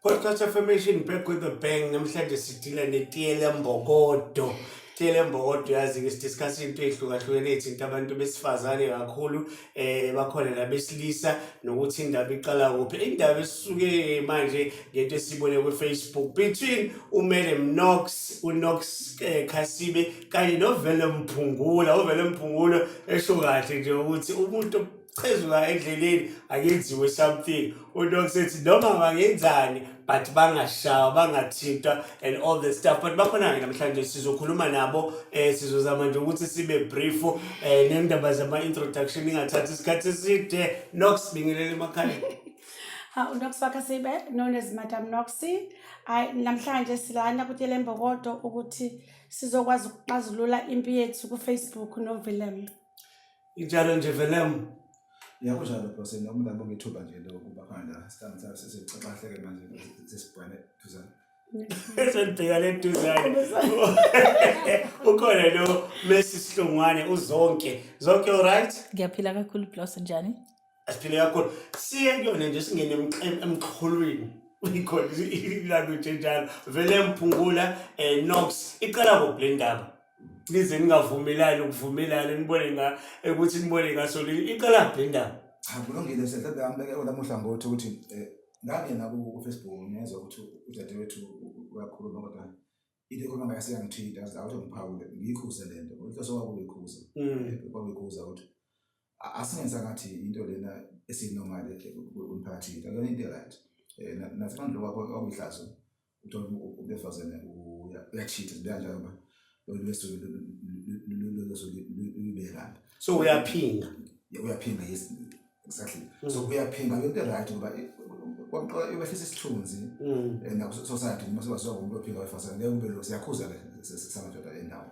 Podcast Affirmation back with a bang namhlanje sidila netiyela mbokodo Tshele Mbokodo yazi-ke sidiscuss into ey'hlukahlukene ethinta abantu besifazane kakhulu um bakhona nabesilisa nokuthi indaba iqala kuphi indaba esisuke manje ngento esiyibone kwi-facebook between umele mnox unox um khasibe kanye novele mphungula uvele mphungula esho kahle nje ukuthi umuntu ochezuka endleleni akenziwe something udok sethi noma bangenzani but bangashawa bangathintwa and all the stuff but bakhona-ke namhlanje sizokhuluma nabo um sizozama nje ukuthi sibe brief um eh, nendaba zama-introduction ingathathi isikhathi eside nox bingelele emakhaleni Ha uNox Wakasibe known as Madam Noxy. Ay namhlanje silana kutyela imbokodo ukuthi sizokwazi ukuxazulula impi yethu kufacebook novelem injalo nje velem yakho njalo bose noma umuntu abonge ithuba nje lokuba khona sihlangana sabe sesixaxahleke manje sesibhane duzane esendibheka le duzane ukhona lo mesi sihlungwane uzonke zonke all right ngiyaphila kakhulu blose njani asiphile kakhulu siye kuyona nje singene emxholweni ikhona ilalo nje njalo vele mphungula um nox iqala kuphi le ndaba nize ningavumelani ukuvumelana nibone nga ukuthi nibone ngasolini iqala kuphi le ndaba cha kulungile msehlebe ambeke olamuhla ngothi ukuthi um ngangena kufacebook ngezwa ukuthi udadewethu uyakhuluma kodwa into ekhuluma ngayo siyangithinta awuthi ngiphawule ngiyikhuze le nto ngokuthi osokwakuyikhuza mm. kwakuyikhuza ukuthi asenza ngathi into lena esinormal emphakathini akuyona into right eh, nathi abantu lokho kwakuyihlazo uthola ubefazane uyachitha sibekanjalo ba lolwesolulibekana so uyaphinga uyaphinga yes exactly mm. so uyaphinga into right ngoba kwamqoka iwehlisa isithunzi mm. eh, nakusosayidi uma sebaziwa ngomuntu ophinga wefazane ngeke ube lo siyakhuza ke samadoda endawo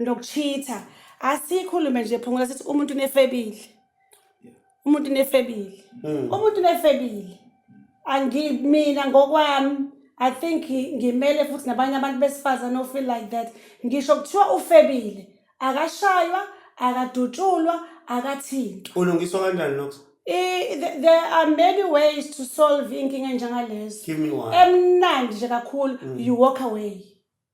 nokuchitha asikhulume nje phungula sithi umuntu unefebile umuntu unefebile Mm. umuntu unefebile angi mina ngokwami i think ngi- ngimele futhi nabanye abantu besifazane ofeel like that ngisho kuthiwa ufebile akashaywa akadutshulwa akathintwa ulungiswa kanjani lokho I- th- there are many ways to solve inkinga enjengalezo give me one emnandi nje kakhulu you walk away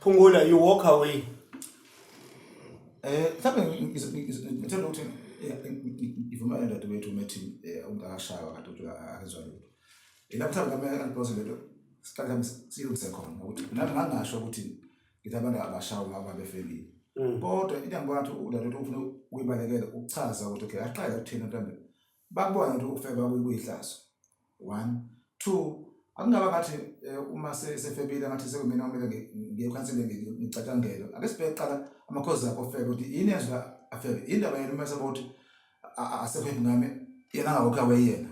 Phungula you walk away. Eh mhlawumbe ngithanda ukuthi ivuma yena dadewethu umethi eh, ungakashaywa kade uthi akezwa lutho. Yena mhlawumbe ngamele angiphose lento siqale siyilungise khona ukuthi nami ngangasho ukuthi ngithi abantu abashawa ngaba befelile. Mm. Kodwa into engibona ukuthi udadewethu ufuna ukuyibalekela ukuchaza ukuthi okay aqale ukuthina mhlawumbe Bakubona ukuthi ukufeba kuyihlazo. One. Two, akungaba ngathi eh, uma sefebile ngathi sekumina kumele ngiye ekhanseleni ngicatshangelwe. Ake sibheke kuqala amakhozi akho ofebe ukuthi yini yenza afebe. Yini ndaba yena uma esaba ukuthi asekho ingane yena angawokhi awe yena.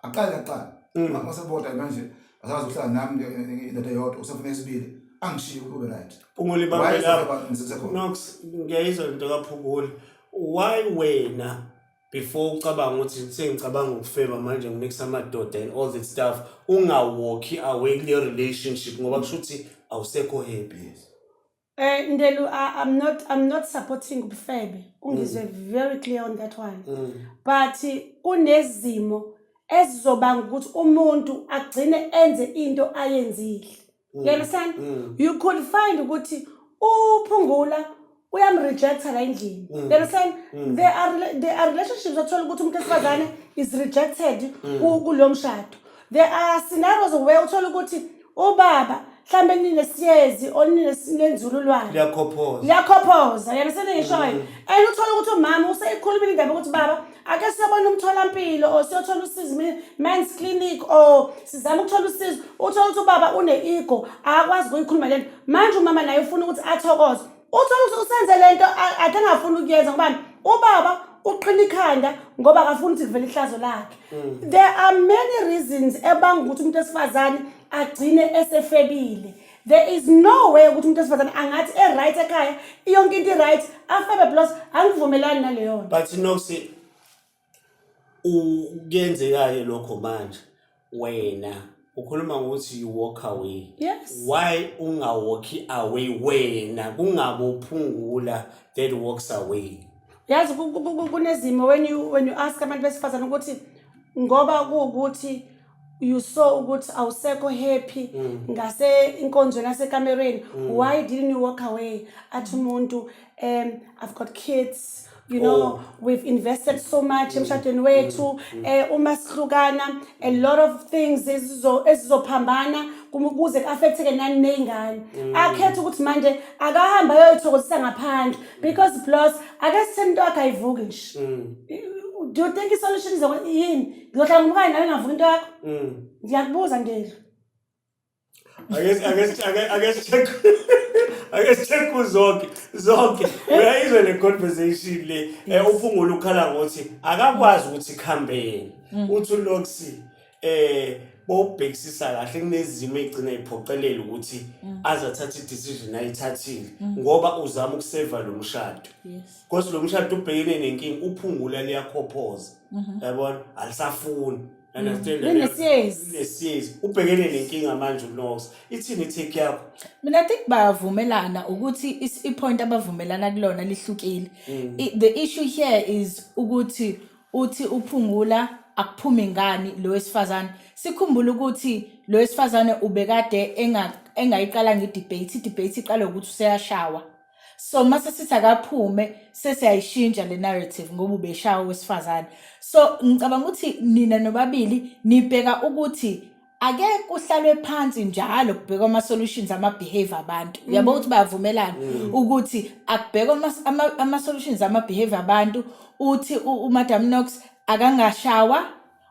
Aqale kuqala. Mm. Uma seboda manje asazi ukuhlala nami indoda yodwa usefuna isibili angishiye kube right. Phungula ibambe lapho. Nox ngiyayizwa into kaphungula. Why wena before ucabanga ukuthi sengicabanga ukufeba manje ngimix amadoda and all that stuff ungawalki away kuleyo relationship ngoba kusho ukuthi awusekho happy Eh Ndelu, I, I'm not I'm not supporting ubufebe. Ungizwe very clear on that one. Mm. But kunezimo ezizobanga ukuthi umuntu agcine enze into ayenzile. Mm. You understand? Mm. You could find ukuthi uphungula uyamrejecta la endlini. Mm. You understand? Mm. There are rela- there are relationships othola ukuthi umuntu wesifazane is rejected Mm. ku- kulo mshado. There are scenarios where uthola ukuthi ubaba mhlambe ninesiyezi or nines- nenzululwane. liyakhophoza liyakhophoza yena seningishoyo and uthole ukuthi umama useyikhulumile indaba ukuthi baba ake siyobona umtholampilo or siyothola usizo men's clinic or sizama ukuthola usizo uthola ukuthi ubaba une-ego akakwazi ukuyikhuluma le nto manje umama naye ufuna ukuthi athokoze uthola ukuthi usenze le nto ake angafuni ukuyenza ngobani ubaba uqhina ikhanda ngoba akafuni ukuthi kuvele ihlazo lakhe mm. there are many reasons ebanga ukuthi umuntu esifazane agcine esefebile there is no way ukuthi umuntu wesifazane angathi e-right ekhaya iyonke into i-right afebe plus angivumelani naleyo nto but nokuthi kuyenzeka-ke lokho manje wena ukhuluma ngokuthi you walk away yes why ungawalki away wena kungabophungula that walks away yazi ku- ku- ku- kunezimo when you when you ask abantu besifazane ukuthi ngoba kuwukuthi you saw ukuthi awusekho happy mm. ngase inkonzweni yasekamereni mm. why didn't you walk away athi umuntu um i've got kids you know oh. we've invested so much mm. emshadweni wethu um uma sihlukana a lot of things ezizophambana kuze ku-affectheke nani ney'ngane akhetha ukuthi manje akahambe ayoyithokozisa ngaphandle because plus ake sitheni into yakhe ayivuki nje do you think isolution is yini ngiyohlanga umkanye nawe ngavuka into yakho Mm. ndiyakubuza ndela Ake si- ake si- ake- ake si check ake si check uzonke zonke uyayizwa le conversation le eh, uphungula ukhala ngothi akakwazi ukuthi khambeni Mm. uthi uLoxi eh bobhekisisa kahle kunezimo egcina iphoqelela ukuthi Mm. azathatha i-decision ayithathile ngoba uzama ukuseva lo mshado yes kodwa lo mshado ubhekene nenkinga uphungula liyakhophoza Mhm. yabona alisafuni understand Mhm. Linesiyezi. linesiyezi ubhekene nenkinga manje unox ithini itake yakho mina i think bayavumelana ukuthi is- i-point abavumelana kulona lihlukile Mm. I- the issue here is ukuthi uthi uphungula akuphumi ngani lo wesifazane sikhumbule ukuthi lo wesifazane ubekade enga- engayiqala ngedebate idebate iqala ukuthi useyashawa so mase sithi akaphume sesiyayishintsha le narrative ngoba ubeshaya owesifazane so ngicabanga ukuthi nina nobabili nibheka ukuthi ake kuhlalwe phansi njalo kubhekwa ama-solutions ama-behavior abantu mm. uyabo ukuthi bayavumelana mm. ukuthi akubhekwa ama-solutions ama-behavior abantu uthi umadam nox akangashawa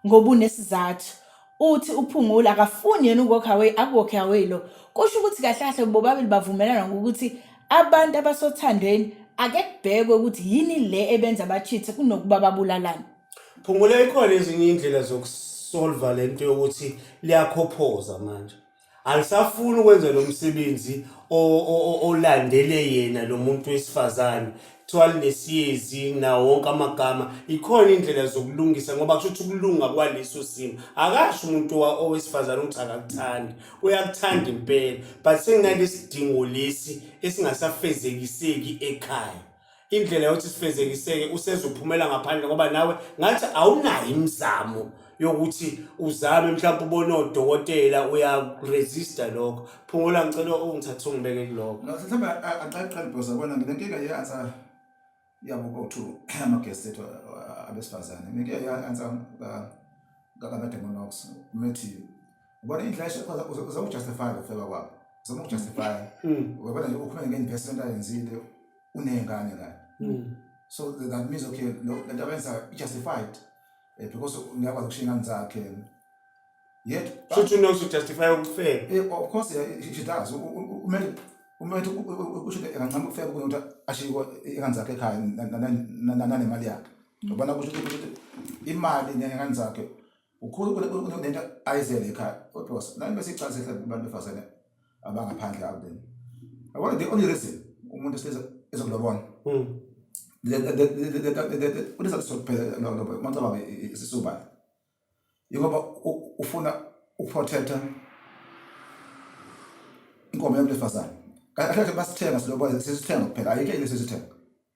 ngoba unesizathu uthi uphungula akafuni yena ukwalk away akwalk away lo kusho ukuthi kahle kahle bobabili bavumelana ngokuthi abantu abasothandweni ake kubhekwe ukuthi yini le ebenza bachithe kunokuba babulalane Phungula ikhona ezinye iy'ndlela zokusolva le nto yokuthi liyakhophoza manje. alisafuni ukwenza lo msebenzi olandele yena lo muntu wesifazane kuthiwa linesiyezi nawo wonke amagama ikhona indlela zokulungisa ngoba kusho ukuthi ukulunga kwaleso simo akasho umuntu owesifazane ukuthi akakuthandi uyakuthanda impela but senginalesidingo lesi esingasafezekiseki ekhaya indlela yokuthi sifezekiseke useze uphumela ngaphandle ngoba nawe ngathi awunayo imizamo yokuthi uzame mhlawumbe ubone odokotela uyaresista lokho phungula ngicela ungithathe ungibeke kuloko no mhlawumbe aqaqale because abona nginenkinga ye-ansa yabo kothu amagesi ethu abesifazane nginenkinga ye-ansa kakamedemonox methi ubona indlela uzakujustifya ukufeba kwabo uzama ukujustifya webona ukhuluma nge-investment ayenzile uney'ngane kanye hmm. so that means okay lento abenza i-justified um eh, because ngiyakwazi ukushiya ingane zakhe yet shuthi unozujustify ukufela eh, of course she does umele umele usho kancane ukufela kunokuthi ashiywe ingane zakhe ekhaya nanemali yakhe ngobana kusho ukuthi imali nengane zakhe ukhulu kunento ayizele ekhaya kodwa nami besicathi sehle kubantu befazane abangaphandle out there i want the only reason umuntu size ezokulobona mm unesizathu sokuphela lobo macabanga isisuba yingoba ufuna ukuprotecta inkomo yomntu wesifazane kahle kahle basithenga silobola sisithenga kuphela ayikho into esisithenga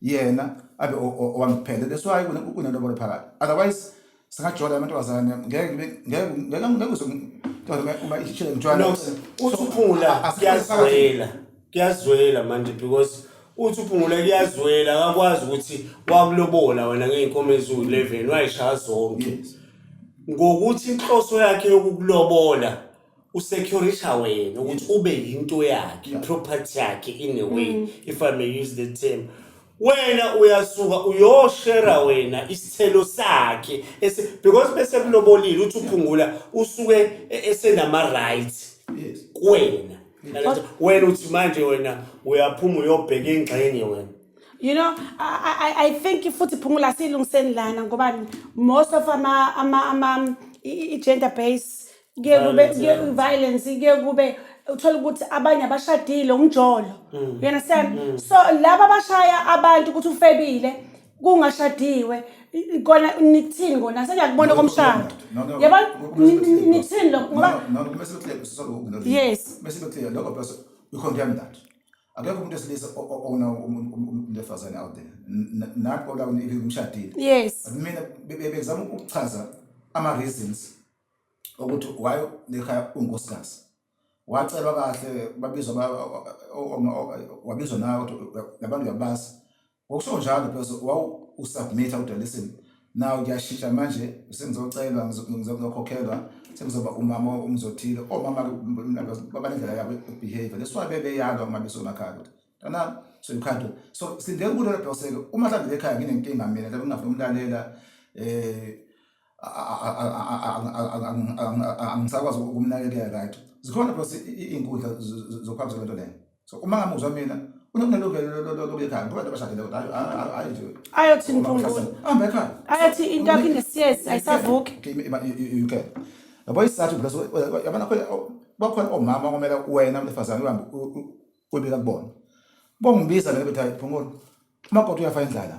yena abe owangiphele that's why kunelobolo phakathi otherwise singajola amantombazane ngeke ngeke ngeke ngikuze uma ishile ngitshwala usuphula kuyazwela kuyazwela manje because uthi uphungula kuyazwela akakwazi ukuthi wakulobola wena ngeyinkomo eziwu-11 wayishaya zonke ngokuthi inhloso yakhe yokukulobola usecuritha wena ukuthi ube yinto yakhe iproperty yakhe in a way mm. if i may use the term wena uyasuka uyoshera wena isithelo sakhe because bese kulobolile uthi uphungula usuke e, esenama-rights kuwena wena uthi manje wena uyaphuma uyobheka ingxenye wena you know I, I, i think futhi phungula siyilungiseni lana ngoba most of ama, ama, ama i-gender base kuye kube Violence, kuye yeah. violence kuye kube uthola ukuthi abanye abashadile umjolo Mm. you understand so laba abashaya abantu ukuthi ufebile kungashadiwe i- i- kona nithini kona sengiyakubona komshado No, no, yabo no, no, ni- no, ni- no. nithini lokho ngoba No, no, kumele sibe clear, sorry, ukungazi. Yes. Kumele sibe clear, lokho plus we condemn that. Akekho umuntu wesilisa o- o- ona um- um- um- umuntu wesifazane out there. N- n- Nathi ola even umshadile. yes Mina be- be- bezama ukuchaza ama reasons ukuthi why lekhaya unkosikazi wacelwa kahle babizwa wabizwa nawe ukuthi labantu uyabazi ngokusho njalo because wawusubmitha kodwa listen naw kuyashintsha manje sengizocelwa ngizokhokhelwa sengizoba umama umzothile omama babanendlela yabo behavior leswa bebeyalwa uma besemakhaya ukuthi tana so you can't do so sindele kulo lapho seke uma mhlawumbe lekhaya nginenkinga mina lapho ngingafuna umlalela eh angisakwazi ukumnakekela right zikhona plus iy'nkundla zokuhambisa lento leyo so uma ngamuzwa mina unokunelungelokuyekhaya ngoba nto bashadile kodwa hayi nje ayothi mpungulo hamba ekhaya ayothi into yakho inesiyesi ayisavuki you can yabo isizathu plus yabona bakhona omama okumele wena mntefazane uhambe uyibeka kubona bongibiza mina bethi hayi phungula umakoti uyafa indlala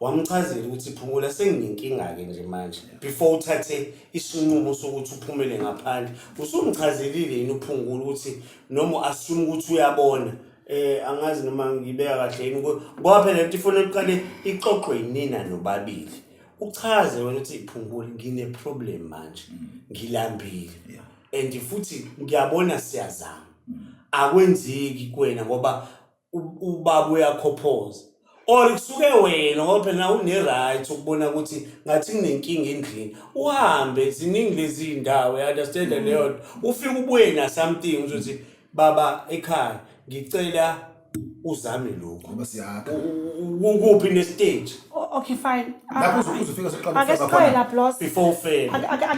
wamchazela ukuthi phumula senginenkinga-ke nje manje before uthathe isinqumo sokuthi uphumele ngaphandle usumchazelile yini uphungula ukuthi noma u-assume ukuthi uyabona eh angazi noma ngibeka kahle yini ngoba phela lento ifuna iqale ixoxwe yinina nobabili uchaze wena ukuthi iphungule ngine-problem manje mm. ngilambile and futhi ngiyabona siyazama mm. akwenzeki kuwena ngoba ubaba uyakhophoza or kusuke wena ngoba phela une-right ukubona ukuthi ngathi kunenkinga endlini uhambe ziningi lezi ndawo i-understand mm. leyo nto ufike ubuye na-something uzothi baba ekhaya ngicela uzame lokhu ngoba siyakha ukuphi nestage okay fine ah, lapho uzokuza ufika soqala ake siqale la plus before ufele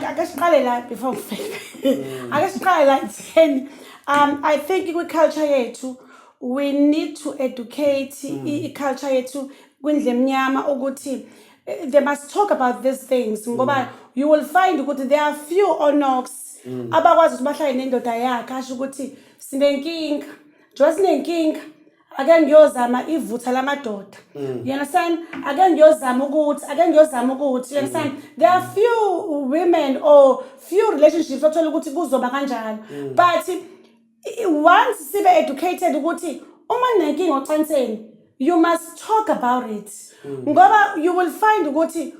ake siqale la before ufele mm. ake siqale la 10 um i think kwi culture yethu we need to educate mm. i-culture yethu kwindle emnyama ukuthi eh, they must talk about these things ngoba mm. you will find ukuthi there are few onox mm. abakwazi ukuthi bahlale nendoda yakhe asho ukuthi sinenkinga njengoba sinenkinga ake ngiyozama ivutha lamadoda mm. you understand ake ngiyozama ukuthi ake ngiyozama ukuthi you understand mm. there are few women or few relationships othola ukuthi kuzoba kanjalo mm. but I- once sibe educated ukuthi uma ninenkinga ocanseni you must talk about it ngoba you will find ukuthi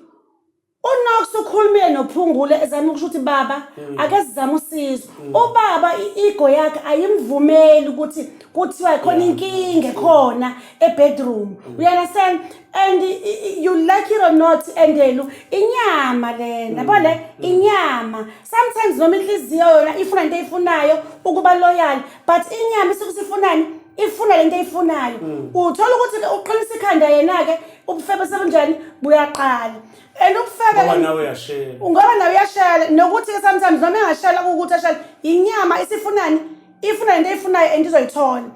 unox ukhulumile nophungule ezama ukusho ukuthi baba ake sizame usizo ubaba i-ego yakhe ayimvumeli ukuthi kuthiwa khona inkinga ekhona ebedroom uyanderstand and you like it or not endelu inyama lena mm, bole mm. inyama sometimes noma inhliziyo yona ifuna into eyifunayo ukuba loyal but inyama isuke sifunani ifuna lento eyifunayo mm. uthola ukuthi uqinisa ikhanda yena ke ubufebe sebunjani buyaqala and ubufebe ngoba nawe uyashela ngoba nawe uyashela nokuthi ke sometimes noma engashela ukuthi ashela inyama isifunani ifuna lento eyifunayo and izoyithola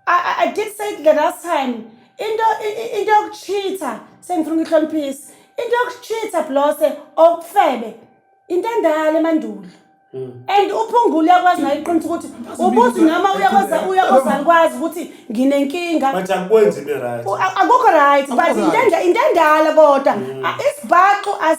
I, I, I did say it the last time. Into i- i- into yokucheater sengifuna ukuyihloniphisa. Into yokucheater blose okufebe. Into endala emandulo. And uphungula uyakwazi naye iqiniso ukuthi ubuthi noma uyakoza uyakoza kwazi ukuthi nginenkinga. But akwenzi be right. U- a- akukho right but Akukho right. intenda intendala kodwa A- isibhaxu as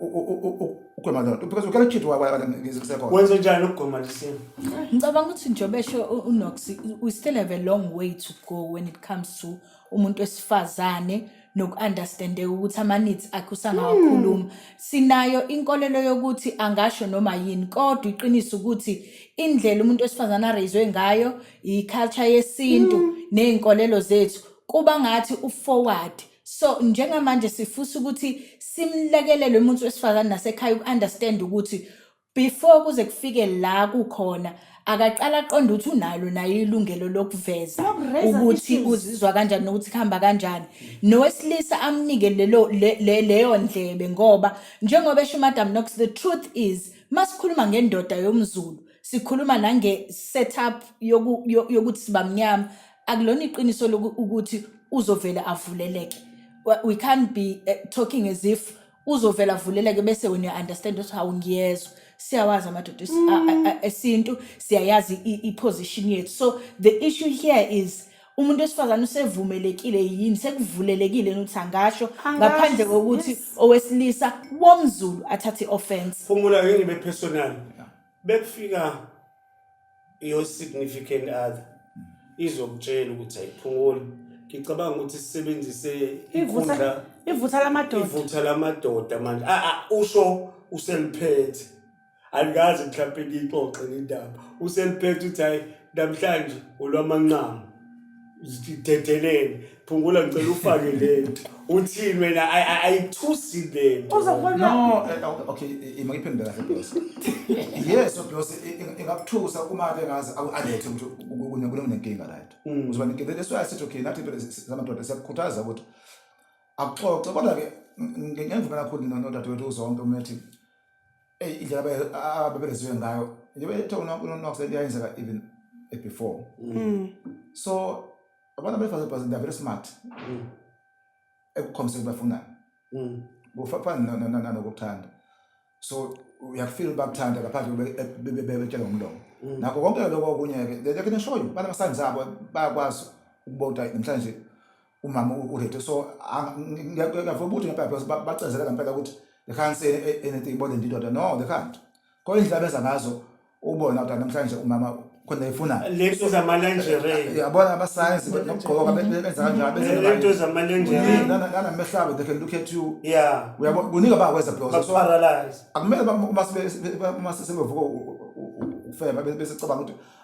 ukugwema lento because ukela ukhithi wasekhona wenze njani ukugwema lesimo ngicabanga ukuthi njengoba esho unox we still have a long way to go when it comes to umuntu wesifazane noku-understandeka ukuthi ama-needs akhe usangawakhuluma hmm. sinayo inkolelo yokuthi angasho noma yini kodwa iqiniso ukuthi indlela umuntu wesifazane areyizwe ngayo i-culture yesintu hmm. ney'nkolelo zethu kuba ngathi u-forward So njengamanje sifisa ukuthi simlekelelwe umuntu wesifazane nasekhaya uku-understand ukuthi before kuze kufike la kukhona akaqala aqonde ukuthi unalo naye ilungelo lokuveza Lokureza ukuthi issues. uzizwa kanjani nokuthi kuhamba kanjani nowesilisa amnike lelo le- le- leyo ndlebe ngoba njengoba esho umadam nox the truth is masikhuluma ngendoda yomzulu sikhuluma nange-setup yoku- yo- yokuthi sibamnyama akulona iqiniso loku- ukuthi uzovele avuleleke Wa- we can't be eh, talking as if uzovele avuleleke bese wena uya-understand ukuthi hawu ngiyezwa siyawazi amadoda es- a- a- a- esintu siyayazi i- i-position yethu so the issue here is umuntu wesifazane usevumelekile yini sekuvulelekile yini ukuthi angasho ngaphandle Angasho, kokuthi yes. owesilisa womzulu athathe i-offense Phumula ngeke ngibe personal. bekufika your significant other izokutshela ukuthi ayiphunguli ngicabanga ukuthi sisebenzise inkundla ivutha lamadoda ivutha lamadoda manje a a usho useliphethe alikazi mhlawumbe ngiyixoxe indaba useliphethe uthi hayi namhlanje olwamanqamu zidedelele phungula ngicela ufake lento uthini wena I- I- ayithusi lento uzobona no eh, okay, okay eh, eh, makiphendule kahle boss yes no boss eh, eh, ingakuthusa uma ke ngazi awu- alethe ukuthi u- u- une- kunenkinga right Mm. uzoba nenkinga that's why i said okay nathi impela si- si- samadoda siyakukhuthaza ukuthi akuxoxe kodwa ke ngengivumela kakhulu no- nodadewethu uzonke umethi eyi indlela ababereziwe ngayo yebethounakuseyenzeka even before mm. so abantu abesifazane they're very smart mm. ekukhombiseni bafunani mm. kufafana nokuthanda so uyakufila bakuthanda ngaphandle bebetshela ngomlomo nakho konke lokho okunye-ke they can show you banama-signs abo bayakwazi ukubota namhlanje umama uReto so ngiyavuma ukuthi ngebhayibheli bacezela ngempela ukuthi they can't say anything about the daughter no they can't kodwa indlela benza ngazo ubona ukuthi namhlanje umama khona efuna lento zamalenjere yabona abasayensi nokugqoka benza kanjalo benza lento zamalenjere nana mehlabo they can look at you yeah uyabona kuningi abakwenza bloza so akumele uma uma sebevuka ufeba bese cabanga ukuthi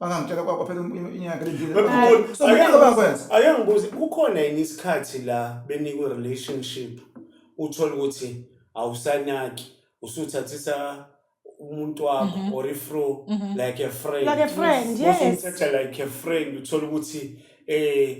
bangangitshela kwakho phela inyanga lendile so kuningi abakwenza ake ngibuze kukhona yini isikhathi la benikwe relationship uthole ukuthi awusanaki usuthathisa umuntu wakho Mhm. or ifro Mhm. like a friend Like a friend, yes. usumthatha like a friend uthole ukuthi eh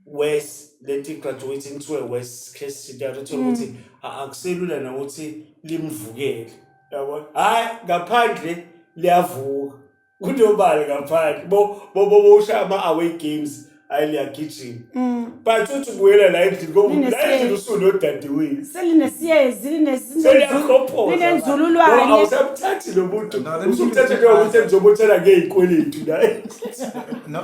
worse lento i-graduating to a worse case scenario uthole ukuthi mm. a- akuselula nokuthi limvukele yabo hhayi ngaphandle liyavuka kunobali ngaphandle bo bo bo bosha ama-away games hhayi liyagijima mm. but uthi ubuyela la endlini ngoba la Linesiyezi. endlini usunodadewenu selinesiyezi linesi- seliyakhophoza linenzululwane Ngoba awusamthathi lo muntu No, let me give you usumthathe a njengokuthi different engizobothela ngey'kweletu naye No,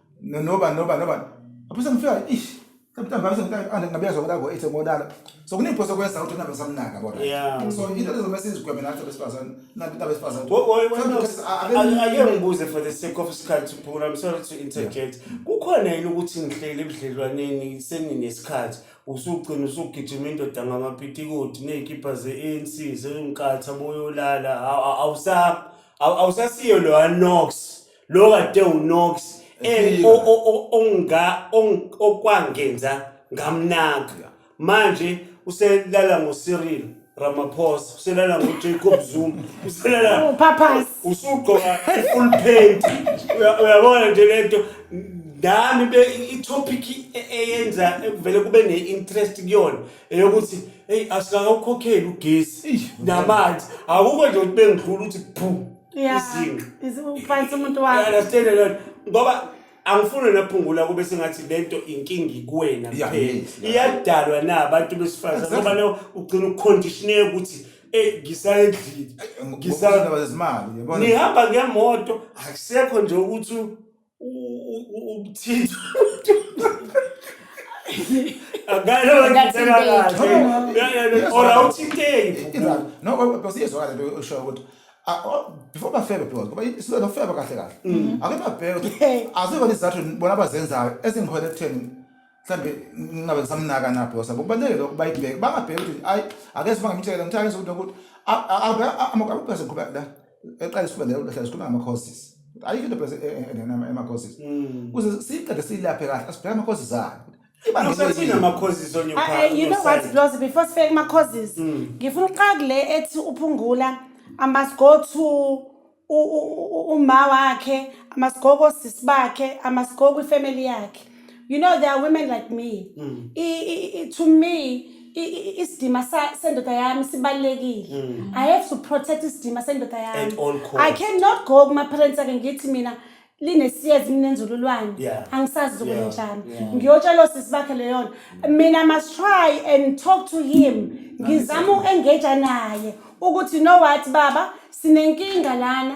no noba noba noba apho sengifika ish Sometimes ngithanda ngabiya zonke labo ethe ngonala. So kuniphosa kwenza ukuthi nabe samnaka bona. So into lezo mase izigwebe nathi besifazane nathi into besifazane. Ake ngibuze for the sake of isikhathi phula I'm sorry to interject. Kukhona yini ukuthi ngihlele ebudlelwaneni seninesikhathi usugcina usugijima indoda ngamapitikoti nezikhipha ze-ANC sewumkatha boyolala awusasiyo lo Anox. lo kade unox eh, o- o- o- onga- ong- okwangenza ngamnaka manje uselala ngocyril ramaphosa uselala ngojacob zuma uselala Uphaphasi. usugqoka i-full paint Uya- uyabona nje lento nami be i-topic e- eyenza ekuvele kube ne-interest kuyona eyokuthi eyi asikakawukhokheli ugesi namanzi akukho nje ukuthi bengidlula ukuthi phu Yeah. Izinga. Is- Ufanisa umuntu I wakho. understand a lot ngoba angifuni naphungula kube sengathi lento inkinga ikuwena Yeah, kuphela yes, yeah. iyadalwa na abantu besifazane Exactly. ngoba leyo ugcina uconditioneke ukuthi eh ngisayedlile Ngisa- ngizindaba zezimali yabona nihamba ngemoto akusekho nje ukuthi umthinto akalo ngithela kahle or awuthinteki no because iyezwakala into osho ukuthi before bafebe because ngoba isizwe nofeba kahle kahle ake babheke ukuthi azikho izizathu bona abazenzayo ezingiholela ekutheni mhlambe ngingabe ngisamnaka na because akubalekile ukuba ibheke bangabheki ukuthi hayi ake sibangamtshela ngithathe ukuthi ukuthi abaphaze kuba la eqale sikhuluma ngale nto sikhuluma ngama causes ayikho into phela engenama ama causes mm. kuze siqede silaphe kahle asibheke ama causes akhe Usathina ama causes on your part. Ah, eh, you know what Blozi before sifike kuma causes mm. ngifuna uqaka le ethi uphungula I must go to uma wakhe I must go kosisi bakhe I must go kwi family yakhe you know there are women like me mm. I, I, I, to me isidima sendoda yami sibalulekile mm. i have to protect isidima sendoda yami i cannot go kuma-parents ake ngithi mina linesiyezi minenzululwane yeah. angisazi zokwenjani yeah. yeah. ngiyotshelwa sisi bakhe leyo nto mm. mina must try and talk to him ngizama uku-engaja naye ukuthi no what baba sinenkinga lana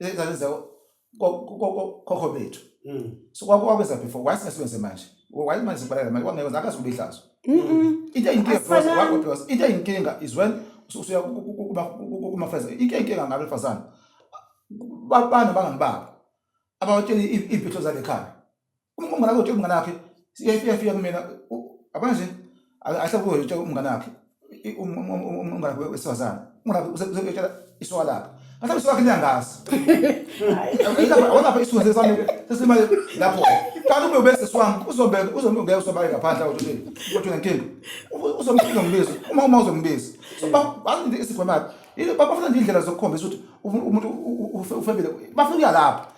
Lezingane zawo kokho bethu. Mm. So kwakwakwenza before why singasebenze manje? Why manje sibalala manje kwangeke zakazi kubihlazo. Mm. Into inkinga because why because into inkinga is when usuya kuma kuma friends. Into inkinga ngabe fasana. Babana bangangibaba. Abawatshela impilo zalekhaya. Uma umngane wakho utshela umngane wakhe iyafika fika kumina abona nje ahle kuyo utshela umngane wakhe umngane wakhe wesifazane umngane wakhe uzotshela isoka lakhe mhlawumbe isoka lakhe niyangazi awonapha isifundise sami sesimale lapho kanti ube ubese siwami uzombe uzombe ngeke usobale ngaphandle awuthi nje kodwa nenkinga uzombe uzombiza uma uma uzombiza so bathi isigwemaphi bafuna nje indlela zokukhombisa ukuthi umuntu ufebile bafuna ukuya lapho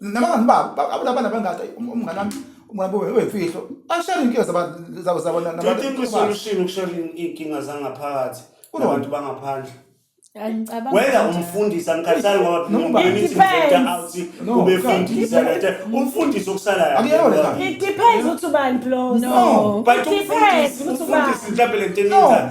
nabangani babo abulabana bangada umngane wami umngane wami wemfihlo ashare inkinga zabo zabo nabantu solution ukushare inkinga zangaphakathi kubantu bangaphandle whether umfundisi angikhathali ngobaubefundisa lete umfundisi okusalayoidepends ukuthi ubani blosbut umfundisi mhlawumbe le nto enenzayo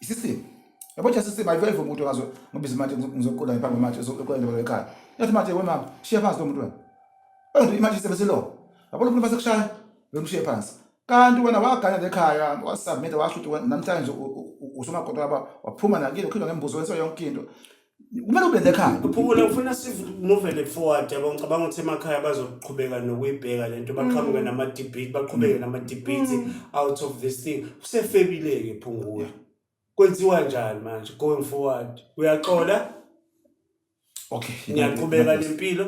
isisimo yabo nje sisimo ayiveli umuntu ngazo ngoba izimanje ngizoqola ngiphambi manje ezoqola into ekhaya yathi manje we mama shiya phansi lo muntu wena wena imanje isebenze lo yabo lo muntu base kushaya lo muntu shiya phansi kanti wena waganya lekhaya wasubmit washo ukuthi namhlanje usomaqoto laba waphuma nakile ukhindwa ngembuzo wenso yonke into kumele ube the car uphumula ufuna simovele forward yabo ngicabanga ukuthi emakhaya bazoqhubeka nokuyibheka lento baqhamuke mm. nama debate baqhubeke mm. nama debate mm. out of this thing kusefebile ke phungula kwenziwa njani manje going forward uyaxola okay ngiyaqhubeka nempilo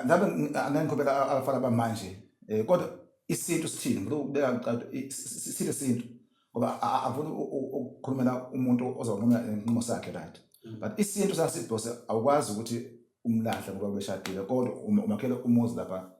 ngabe angiqhubeka abafana bamanje eh, kodwa isintu sithini ngikubeka ngicado isintu isintu ngoba angifuni ukukhulumela umuntu ozonquma inqumo sakhe right mm. but isintu sasibhose awukwazi ukuthi umlahle ngoba beshadile kodwa um, umakhele umuzi lapha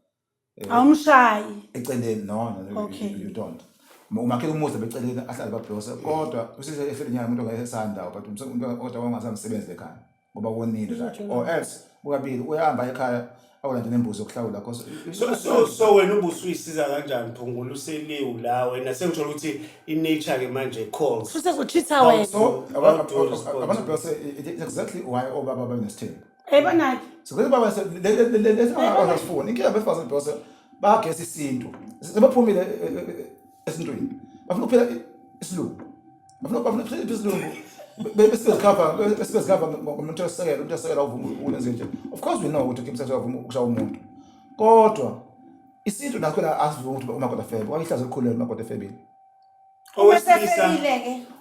eh, awumshayi eceleni no no you don't umakhele umuzi lapha eceleni ahlale babhose kodwa usise efile nyama umuntu ngeke esandawo but umuntu kodwa wangasamsebenzi ekhaya ngoba wonile right or else ukabili uyahamba ekhaya awulande nembuzi yokuhlawula cause so so so wena ubusuyisiza kanjani phungula useliwu la wena sengithola ukuthi inature ke manje calls Futhi kuchitha wena. so abantu abantu bese it's exactly why obaba banesithembu Hey banaki. so ke baba lesifuna inkinga befazana bese bagesa isintu sebephumile eh, eh, eh, esintwini bafuna ukuphila isilungu bafuna bafuna ukuphila isilungu besizikhava besizikhava ngomuntu osekela umuntu osekela uvuma ukwenza nje of course we know ukuthi kimsa uyavuma ukushawa umuntu kodwa isintu nakho la asivuma ukuthi umakoti afebe wayihlaza elikhulu umakoti efebile owesilisa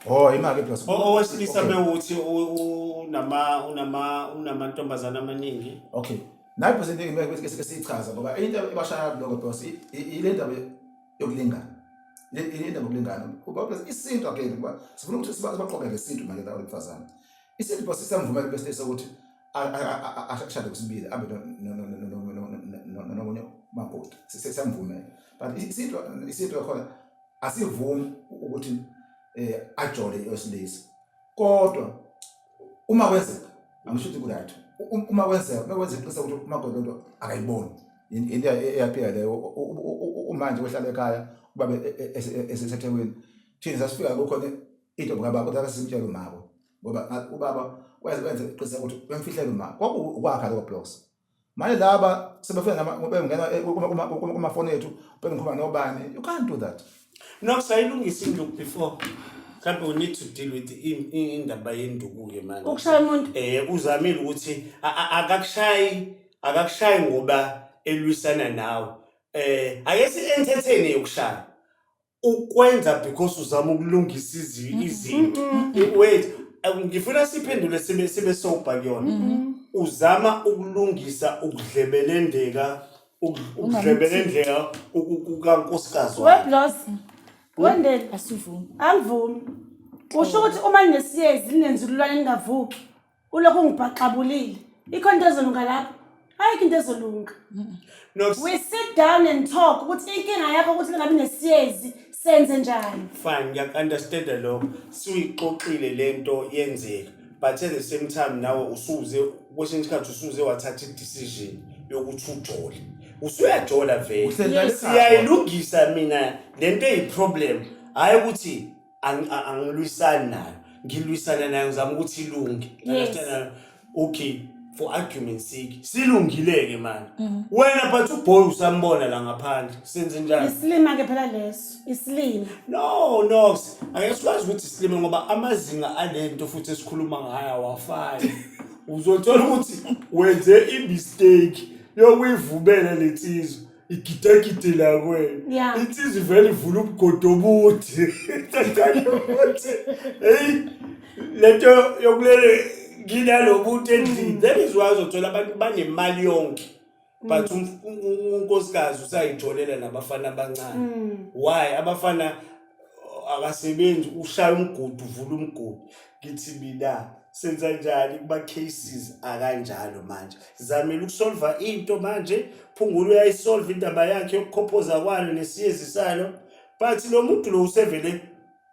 oh imali plus owesilisa bewuthi unama unama unamantombazana amaningi okay nayo phose into engeke sichaza ngoba into ebashaya lokho because ile ndaba yokulingana yini indaba yokulingana ubabes isintu again kuba sifuna ukuthi sibaqoke ngesintu manje lawo mfazane isintu base siyamvumela bese sokuthi ashade kusibili abe nomunye makoti siyamvumela but isintu isintu yakhona asivumi ukuthi ajole osilisa kodwa uma kwenzeka angisho ukuthi kuright uma kwenzeka uma kwenzeka iqiniso ukuthi umakoti lento akayiboni into eyaphika leyo umanje wehlala ekhaya ubabe esethekwini thina sasifika kukhona into ngaba kodwa akasimtshela umako ngoba ubaba wenze wenze iqiniso ukuthi bemfihlela umako kwakuwakha lokho blocks Manje laba sebefika nama bengena kumafoni ethu bengikhuluma nobani. You can't do that. No, sayilungisa induku before. Mhlawumbe we need to deal with i- i- indaba yenduku-ke manje. Ukushaya umuntu. Eh uzamile ukuthi a- a- akakushayi akakushayi ngoba elwisana nawe. Eh ake si entertain yokushaya. ukwenza because uzama ukulungisa izi- izinto wait eh, ngifuna siphendule sibe sibe sober kuyona uzama ukulungisa ukudlebelendeka uku- ukudlebelendeka ku- ku- kukankosikazi wakhe weblos wendele asivumi angivumi usho ukuthi uma ninesiyezi ninenzululwane ningavuki ulokhu ungibhaxabulile ikhona into ezolunga lapho ayikho into ezolunga No, s- we sit down and talk ukuthi inkinga yakho ukuthi lingabi nesiyezi senze njani fine ngiyaku-understanda lokho suyixoxile le nto yenzeka but at the same time nawe usuze kwesinye isikhathi usuze wathatha i-decision yokuthi ujole usuyajola vele Uhlezi nalesi- siyayilungisa mina le nto eyi-problem hhayi ukuthi angilwisani nayo ngilwisana nayo ngizama ukuthi ilunge understand okay for argument sake silungileke manje mm. wena but uboy usambona la ngaphandle senze njani isilima ke phela leso isilima no no ake sikwazi ukuthi isilima ngoba amazinga alento futhi esikhuluma ngayo awafani uzothola ukuthi wenze i mistake yokuyivumela lensizwa igidagide lakwena Ya. insizi vele ivula umgodi omuthi Thathani umuthi eyi lento yokulele nginalo muntu endlini that is why uzothola abantu banemali yonke but umf- u- u- unkosikazi usayitholela nabafana abancane why abafana akasebenzi ushaya umgudu uvula umgudu ngithi mina senza njani kuma-cases akanjalo manje zamele ukusolva into manje phungula uyayisolva indaba yakhe yokukhophoza kwalo nesiyezi salo but lo muntu lo usevele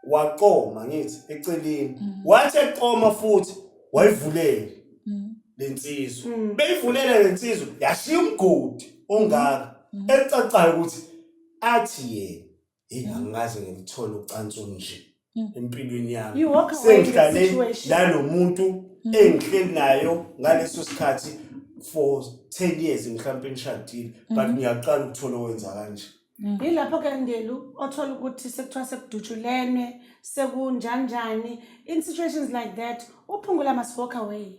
waqoma ngithi eceleni mm. wathi eqoma futhi wayivulela mm. le nsizwa mm. beyivulela le nsizwa yashiya umgodi ongaka ecacayo ukuthi athi yena yini angikaze ngilithole ucansi olunje Mm. empilweni yami You walk away with the sengihlale situation. nalo muntu Mm. engihleli nayo ngaleso sikhathi for 10 years mhlawumpe nishadile Mm. but ngiyaqala ukuthola owenza kanje Mm. Yilapho ke Ndelu othola ukuthi sekuthiwa sekudutshulene, sekunjanjani. In situations like that, uphungula must walk away.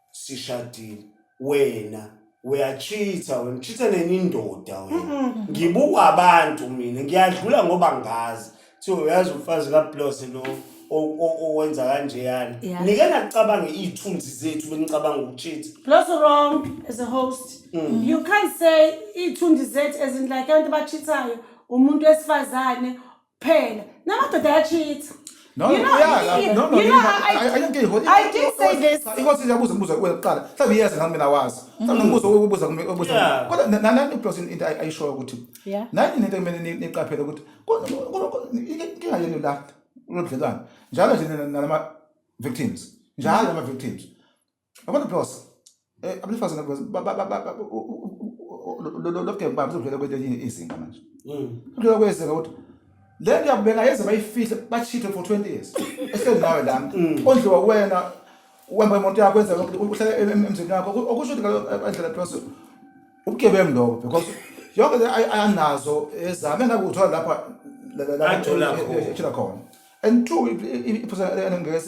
sishadile wena uyachitha wena uchitha nenye indoda wena ngibuka abantu mina ngiyadlula ngoba ngazi so uyazi umfazi kablose lo o- o- owenza kanjeyana Yeah. nike nakucabange iy'thunzi zethu benicabanga ukuchitha Plus wrong as a host. Mm. You can't say iy'thundi zethu ezinhle like abantu abachithayo umuntu wesifazane kuphela namadoda ayacheat No, You know, yeah, you- no, no, you you know, know, I- I- I don't get it. I did say this. Cha, Inkosi iyabuza umbuzo kuwe kuqala. Mhlawumbe iyazi nami mina wazi. Mm-hmm. Mhlawumbe umbuzo wokubuza kumbe obuza. Yeah. Kodwa na- na- nani plus into ay- ayishoyo ukuthi. Yeah. Nani into kumele ni- niqaphele ukuthi ku- ku- ku- inkinga yenu la lobudlelwane. Njalo nje nina- nalama victims. Njalo ama victims. Yabona Bros, eh abesifazane Bros ba- ba- ba- ba- ba- u- u- u- u- lo- lo- lo- lo game baba uzodlula kwelinye izinga manje. Mm. Uzodlula kwezinga ukuthi le nto yakubeka yeze bayifihle bachithe for 20 years. Ehleli nawe lana. Mm. Ondliwa wena uhamba imoto yakho wenza konke uhlale em- em- emzini wakho Oku- okusho ukuthi ngalo- andlela Bros ubugebengu lobo because yonke le ay- ayanazo ezame ngakuthola lapha la- la- la- Athola khona. ethula khona. and two iphutha ngeke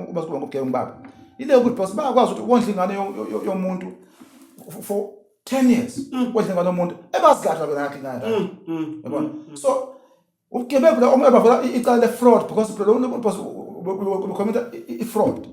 ubasikuba ngokugeba ngibaba ile ukuthi boss bayakwazi ukuthi wondla ingane yomuntu for 10 years mm. wondla ingane yomuntu ebazikadla bona yakhe ingane mm, mm, yabona so ubugebengu la omebavela icala le fraud because phela lo boss ukhomenta i fraud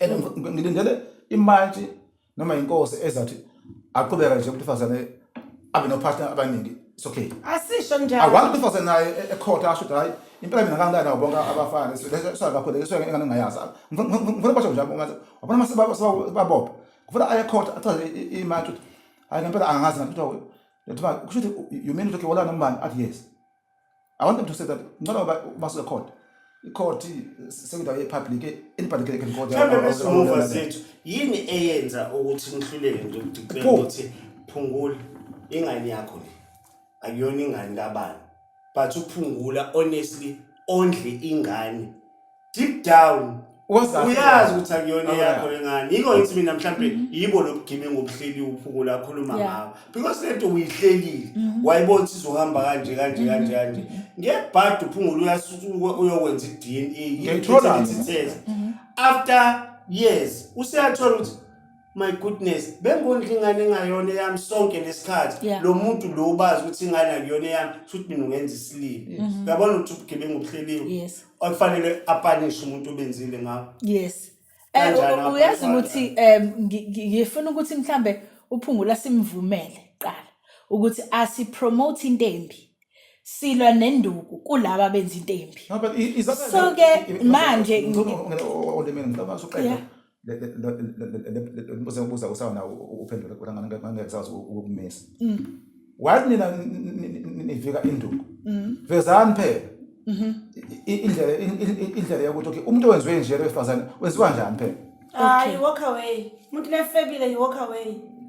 and ngi- ngilindele imantshi noma inkosi ezathi aqhubeka nje umuntu wesifazane abe nopartner abaningi it's okay asisho awani njalo umuntu wesifazane naye e- ekhotha asho ukuthi hhayi impela mina ngangani nabo bonke abafana sakakhuleke suke engane ngingayazi Ngifuna- ngifuna ngifuna basho njalo ngathi wabona uma seba- seba- sebabopha ngifuna aye ekhotha achaze i- i- imantshi ukuthi hhayi ngempela angazi ngathi kuthiwa kuthiwa kusho ukuthi you mean ukuthi wolana umbani athi yes I want them to say that ngicela uba ubasuke court i-court sekundawo ye-public anybody can, can go there mhlawumbe bezihova zethu yini eyenza ukuthi nihluleke nje ukudiclare Pho. ukuthi phungula ingane yakho le akuyona ingane kabani but uphungula honestly ondle ingane deep down Wazazi uyazi ukuthi akuyona Alright. yakho lengane yiko ngithi mina mhlampe yibo lobugebengu obuhleli uphuko lakhuluma Yeah. ngawo because lento uyihlelile wayibona ukuthi izohamba kanje kanje kanje kanje ngebhadi uphungula uyasuka uyokwenza i-dna Ngiyayithola Ithi mina. test. after years useyathola ukuthi my goodness bengondla ingane engayona eyami sonke lesikhathi Yeah. lo muntu lo ubazi ukuthi ingane akuyona eyami futhi mina ungenza isilimi uyabona ukuthi ubugebengu obuhleliwe yes okufanele apanishe umuntu obenzile ngawo yes eh, uyazi ukuthi um ngifuna ukuthi mhlambe uphungula simvumele qala ukuthi asipromote into embi silwa nenduku kulaba benza into embi so ke manje olimini ngicabanga usuqeda mbuzo engibuza usawona uphendula kodwa ngangeke sazi ukumisa mm. wathi nina nivika induku mm. vezani phela mm-hmm. indlela indlela yokuthi okay umuntu owenziwe nje lowesifazane wenziwa njani phela hayi walk away umuntu lefebile you walk away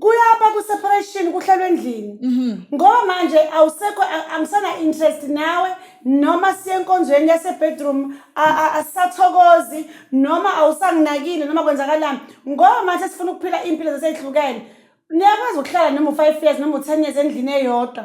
kuyaba ku-separation kuhlalwa endlini mhm. ngoba manje awusekho angisana-interest nawe noma siye enkonzweni yasebedroom asisathokozi noma awusanginakile noma kwenzakalani ngoba manje sifuna ukuphila iy'mpilo zaseyihlukene niyakwazi ukuhlala noma u-five years noma u-ten years endlini eyodwa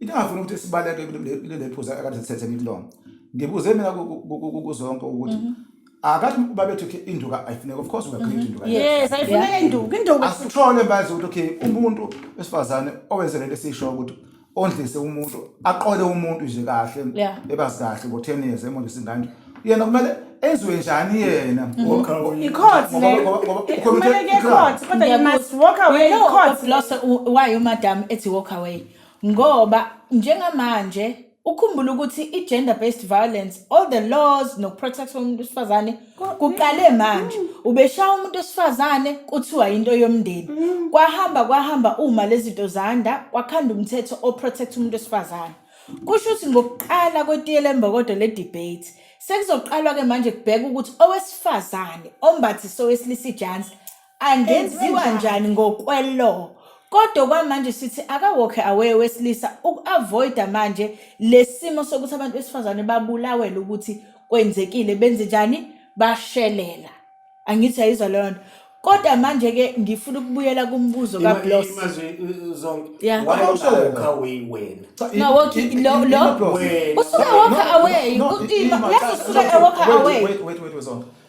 into engafuni ukuthi sibaleke kuleli phuza akade sithethe ngilonga ngibuze mina kuzonke ukuthi mhm. akathi babethu ke induka ayifuneka of course ungakhuleka mhm. induka yes ayifuneka induka induka asithole manje ukuthi okay umuntu wesifazane owenzele lesisho ukuthi ondlise umuntu aqole umuntu nje kahle ebazi kahle ngo 10 years emondlisa ingane yena kumele enziwe njani yena mm-hmm. icourt leyokumeleke court kodwa you must walk away court why umadam ethi walk away ngoba njengamanje ukhumbula ukuthi i-gender based violence all the laws nokuprotect umuntu wesifazane kuqale manje ubeshaya umuntu wesifazane kuthiwa yinto yomndeni kwahamba kwahamba uma lezi zinto zanda kwakhanda umthetho oprotect umuntu wesifazane kusho ukuthi ngokuqala kwetiye lembokodo le-debate sekuzoqalwa-ke manje kubheka ukuthi owesifazane ombathise owesilisa ijansi angenziwa njani ngokwelaw kodwa kwamanje sithi akawokhe away wesilisa uku-avoida manje lesimo sokuthi abantu besifazane babulawele ukuthi kwenzekile benze njani bashelela angithi ayizwa leyo nto kodwa manje-ke ngifuna ukubuyela kumbuzo kablos Yeah. No, walk it- lo- lo- usuke walk away Ima- leso suke walk away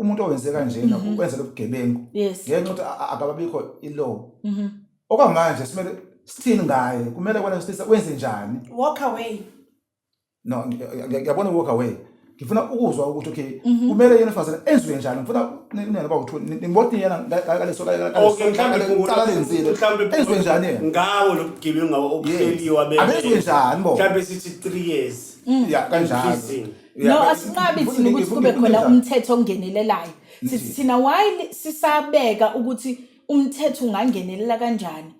umuntu owenze kanjena Mhm. ukwenza lobugebengu yes ngenxa ukuthi a- a- akababikho ilaw Mhm. okwamanje simele sithini ngaye kumele kwena sisa wenze njani walk away no ngi- ngi- ngi- ngiyabona walk away ngifuna ukuzwa ukuthi okay Mhm. kumele yena ufazana enziwe njani ngifuna nina baba uthu niboti yena ngaleso Okay, mhlawumbe kungula- cala lenzile mhlawumbe enziwe njani yena ngawo lo bugebengu ngawo obuhleliwe abenziwe abele njani bo mhlawumbe sithi three years ya kanjalo Prison. Yeah, no but- asinqabi but- thina ukuthi but- kube but- khona but- umthetho ongenelelayo sithi thina while sisabeka ukuthi umthetho ungangenelela kanjani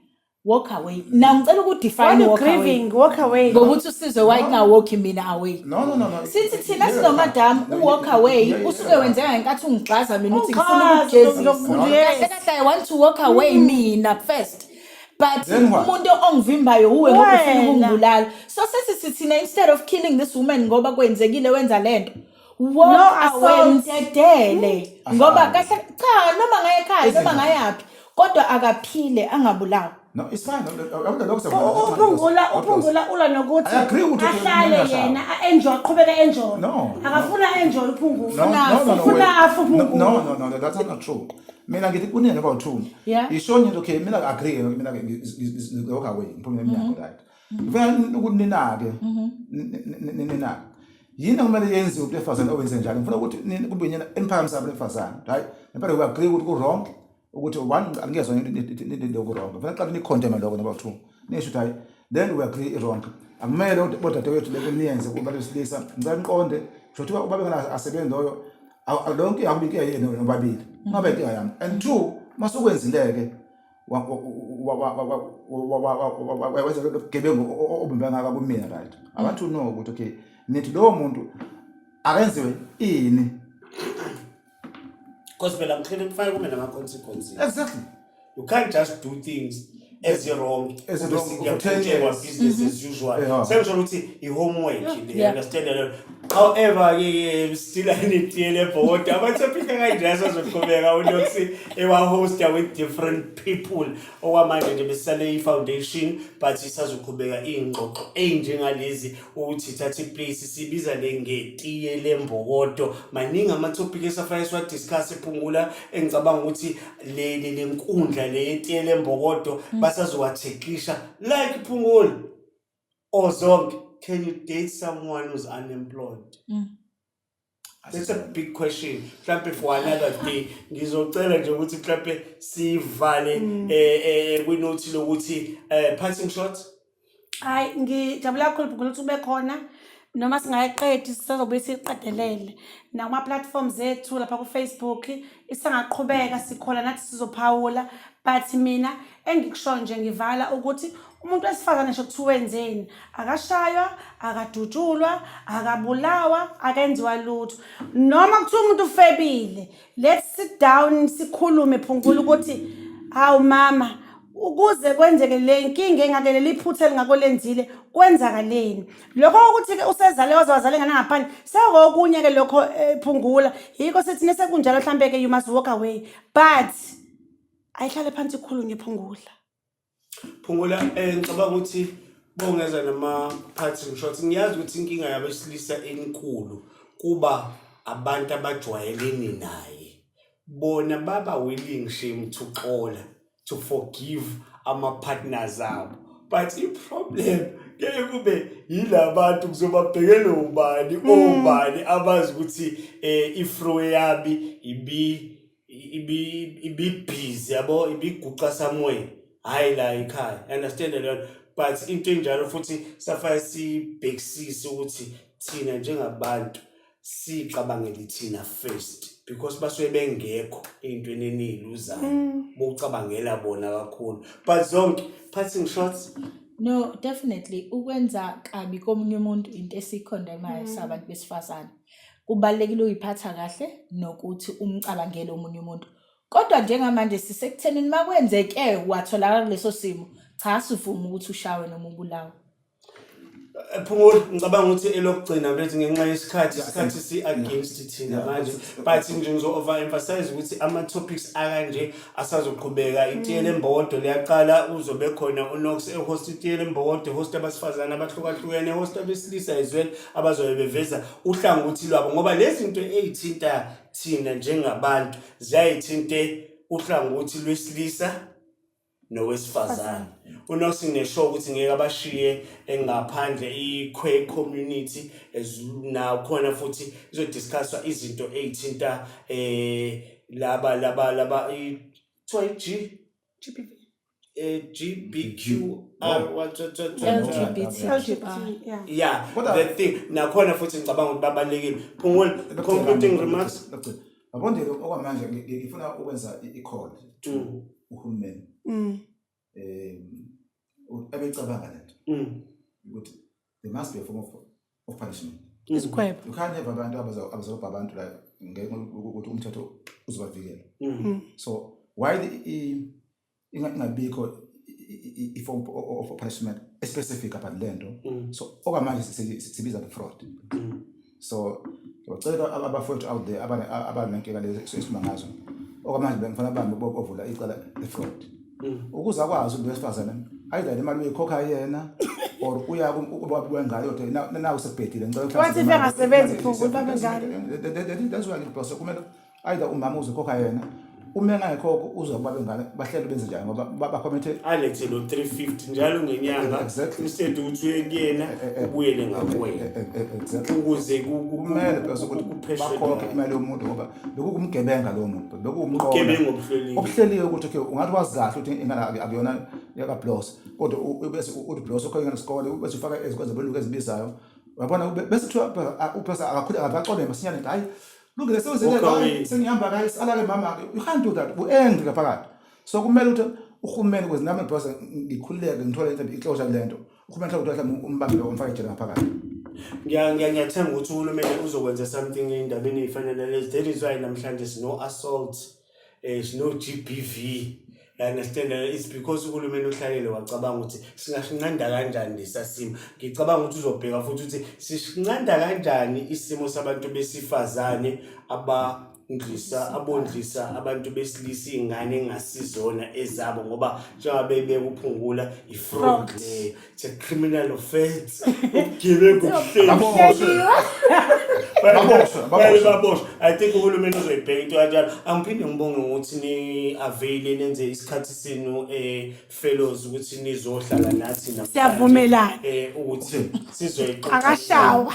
walk away na ngicela Why ukudefine you walk away grieving? Walk away. ngokuthi usizwe why kungawalki mina away No, no, no, no. sithi thina Yeah, sinomadam yeah, uwalk yeah, away yeah, yeah, usuke yeah. wenzeka ngenkathi ungigxaza mina ukuthi ngifuna Ungigxaza, ukugezisa ngizokubulala. kahle kahle i want to walk away mina first but Then what? umuntu ongivimbayo uwe ngoba ufuna Wena. ukungibulala so sesithi thina instead of killing this woman ngoba kwenzekile wenza lento walk No away assault. mdedele Asazi. ngoba kahle cha noma ngaye ekhaya noma Izinto. ngayaphi kodwa akaphile angabulawa No, it's fine. Awuda lokho siyabona. U- uphungula uphungula ula nokuthi I agree with you, ahlale Nina Shaba. yena a-enjoy aqhubeke enjoy No, no. akafuna enjoy uphungula No, no, no, no, Ufuna wait. afe No, uphungula. no, no, no, that's not true. mina ngithi kuningi njengoba uthuni Yeah. yishoni into okay mina agree mina ngilokho away ngiphumile Mhm. emnyango right ngifuna ukuthi ninake Mhm. ninake yini okumele yenziwe umuntu wesifazane owenze njalo ngifuna ukuthi nini kube yinyana eniphakamise abantu besifazane right ngempela we agree ukuthi ku-wrong ukuthi one angiyezwa into ku-wrong ngifuna qala nikhondeme lokho noma two nisho ukuthi hayi then we agree i-wrong akumele ukuthi bodadewethu leko niyenze kubantu besilisa ngicela niqonde kusho kuthiwa uba bengena asebenzi loyo leyo nkinga akuba inkinga yenu nobabili ungabe inkinga yami and two masukwenzile-ke wenza lobugebengu obumbangaka kumina right i want to know ukuthi okay nithi lowo muntu akenziwe ini Because phela ngicela ukufaka kumina ama consequences. exactly you can't just do things eziwrong Eziwrong, Ukuthi ngiyaqhutshekwa, kuthengwe. business as usual Yeah. sengisho ukuthi i-homework le Mm-hmm. Yeah. understand that? however ke ke still anitiyele ebhodi amathopic akanje asazoqhubeka unokuthi ewahosta with different people okwamanje nje besisale i-foundation but isazoqhubeka iy'ngxoxo ey'njengalezi ukuthi thatha iplace sibiza le ngetiye lembokodo maningi amathopic esafanele siwadiscuss ephungula engicabanga ukuthi le le lenkundla le yetiye lembokodo mm. basazowathekisha like phungula or zonke can you date someone who's unemployed mm. That's a big question. Mhlampe for another day ngizocela nje ukuthi mhlampe sivale mm. eh eh kwinothi lokuthi eh passing shots hayi ngijabula kakhulu bhukhula ukuthi ube khona noma singayiqedi sisazobuye siyiqedelele nakuma-platform zethu lapha kufacebook isangaqhubeka sikhona nathi sizophawula but mina engikushoyo nje ngivala ukuthi umuntu wesifazane ngisho kuthiwa wenzeni akashaywa akadutshulwa akabulawa akenziwa lutho noma kuthiwa umuntu ufebile let's sit down sikhulume phungula ukuthi hawu mama ukuze kwenzeke le nkinga engake leli phutha elingako lenzile kwenzakaleni lokho ukuthi-ke usezale waze wazale ngane ngaphandle sekokunye-ke lokho eh, phungula yikho sithi nesekunjalo mhlampe-ke you must walk away but ayihlale phansi ikhulunywe phungula Phungula eh ngicabanga ukuthi bongeza nama parting shots ngiyazi ukuthi inkinga yabesilisa enkulu kuba abantu abajwayelene naye bona baba willing shame to xola to forgive ama partners abo but i problem ngeke kube yilabantu kuzobabhekele ubani obani abazi ukuthi eh ifro yami ibi ibibhizi yabo ibiguqa somewhere hhayi la yikhaya understand leyo but into enjalo futhi safaya sibhekisise ukuthi thina njengabantu sicabangele thina first because basuke bengekho ey'ntweni eniyiluzayo mm. bokucabangela bona kakhulu but zonke passing shots no definitely ukwenza kabi komunye umuntu into esikhondemayo mm. sabantu besifazane Kubalulekile uyiphatha kahle nokuthi umcabangele omunye umuntu. Kodwa njengamanje sisekuthenini uma kwenzeke watholakala kuleso simo, cha sivuma ukuthi ushawe noma ubulawe. Eh, Phumula ngicabanga ukuthi elokugcina bethi ngenxa yesikhathi isikhathi si against thina manje but nje ngizo overemphasize ukuthi ama topics akanje asazoqhubeka itiyela embokodo liyaqala uzobe khona unox ehosta itiyela embokodo ehosta abasifazane abahlukahlukene ehosta abesilisa ezweni abazobe beveza uhlangothi lwabo ngoba lezi zinto ey'thinta thina njengabantu ziyayithinte uhlangothi lwesilisa nowesifazane unox nginesho ukuthi ngeke abashiye engaphandle i-queer community nakhona futhi izodiscusswa izinto ey'thinta um laba laba laba kuthiwa i-G GBV. eh, GBQR what- what- what- what- LGBT. LGBT, yeah. yeah Kodwa- the thing nakhona futhi ngicabanga ukuthi babalekile phungula concluding remarks Abondile okwamanje ngi- ngi- ngifuna ukwenza i- i-call to Mm. uhulumeni. Mm. um abecabanga lento mm. ukuthi there must be a form of, of punishment mm. isikhwebo you can't have abantu abazobha abantu la ngenxa ukuthi umthetho uzobavikela mm. so why ingabikho i-form of punishment especific about le nto so okwamanje sibiza nge-fraud so ngicela abafowethu out there abanenkinga lezi esikhuluma ngazo okwamanje bengifuna bambi bovula icala lefraud mm. ukuze akwazi umuntu wesifazane ayidlale imali uyikhokha yena or uya ubaba wengayo ukuthi nawu sebhedile ngicela ukuthi wathi bengasebenzi futhi babe ngani that's why ngibhose kumele either umama uzokhokha yena uma engayikhokho uzwa kuba bengane bahlele benze njani ngoba ba- bakhomethe alethe lo 350 njalo ngenyanga Exactly. instead ukuthi uye kuyena Eh, eh, eh. ubuyele Eh, ngakuwena eh, eh, eh, exactly. ukuze ku- ku- kumele ku- phela ukuthi kupheshwe bakhokhe naye. imali yomuntu ngoba lokhu kumgebenga lowo muntu lokhu kumqola Ubugebengu obuhleliwe. obuhleliwe ukuthi okay ungathi wazi kahle ukuthi ingane aku- akuyona yakablos kodwa u- u- bese u- uthi blos ukhona ngesikole bese ufaka ezikwenza beluka ezibizayo wabona ube- bese kuthiwa uphesa akakhule akaxolele masinyane hayi Lungile sewuzile la sengihamba kayi salale mama ke. You can't do that. Uangry ngaphakathi. So kumele ukuthi uhulumeni ukuze nami boss ngikhululeke ngithole into ixosha kulento. Uhulumeni mhlawumbe mhlawumbe umbambe lo mfaka ejele ngaphakathi. Ngiya ngiya ngiyathemba ukuthi uhulumeni uzokwenza something endabeni efanele lezi. That is why namhlanje sino assault. eh, sino-GBV you understand it's because uhulumeni uhlalele wacabanga ukuthi singasinqanda kanjani lesa simo ngicabanga ukuthi uzobheka futhi ukuthi sisinqanda kanjani isimo sabantu besifazane aba ndlisa abondlisa abantu besilisa iy'ngane engasizona ezabo ngoba njengabe bekuphungula i-fraud leyo It's a criminal offense. Ubugebengu obuhleli. Baboshwe. Baboshwe, Baye baboshwe. baboshwe. I think uhulumeni uzoyibheka into kanjalo. Angiphinde ngibonge ngokuthi ni avail nenze isikhathi senu eh fellows ukuthi nizohlala nathi namhlanje. Siyavumelana. Eh ukuthi sizoyixoxa. Akashawa.